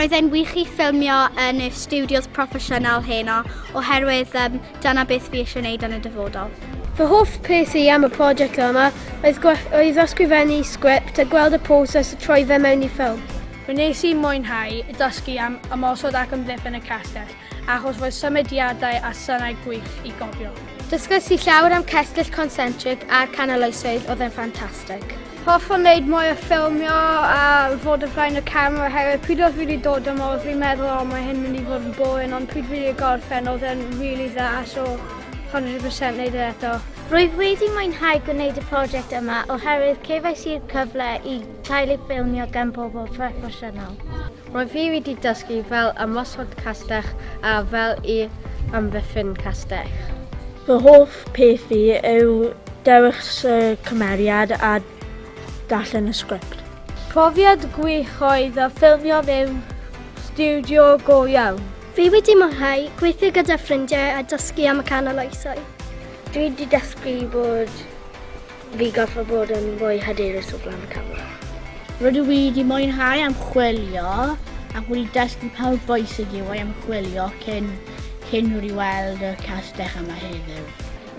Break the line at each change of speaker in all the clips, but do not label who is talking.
Roedd e'n wych i ffilmio yn y studios proffesiynol heno oherwydd um, dyna beth fi eisiau gwneud yn y dyfodol. Fy hoff peth i am y prosiect yma oedd, oedd ysgrifennu sgript a gweld y proses a troi fe mewn i ffilm. Fe nes i mwynhau dysgu am ymosod ac ymddiffyn y castell. achos roedd symudiadau a synau gwych i gofio. Dysgais i llawer am cestyll concentric a canaloesoedd oedd e'n ffantastig. Hoffwn wneud mwy o ffilmio a fod y flaen y camera oherwydd pryd oedd fi wedi dod yma oedd fi'n meddwl o mae hyn mynd i fod yn boen ond pryd fi wedi gorffen oedd e'n really dda so 100% wneud e eto. Rwyf wedi mwynhau gwneud y prosiect yma oherwydd cefais i'r cyfle i cael ei ffilmio gan bobl proffesiynol. Mae fi wedi dysgu fel ymosod castell a fel i amddiffyn castell. Fy hoff peth fi yw dewis y cymeriad a darllen y sgript. Profiad gwych oedd a ffilmio mewn stiwdio go iawn. Fi wedi mwynhau gweithio gyda ffrindiau a dysgu am y canol oesoedd. Dwi 'di dysgu bod Fi goffa bod yn fwy hyderus o flan y camera. Rydw i wedi mwynhau ymchwilio ac wedi dysgu pa mor bwysig yw ei ymchwilio cyn cyn wedi weld y castell yma heddiw.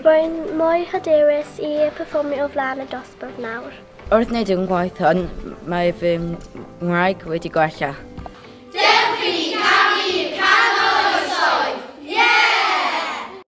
Rwy'n mwy hyderus i perfformio o flan y dosbarth nawr. Wrth wneud yn gwaith hwn, mae fy Nghymraeg wedi gwella. Dewch i ni canu i'r canol oes oed! Yeah!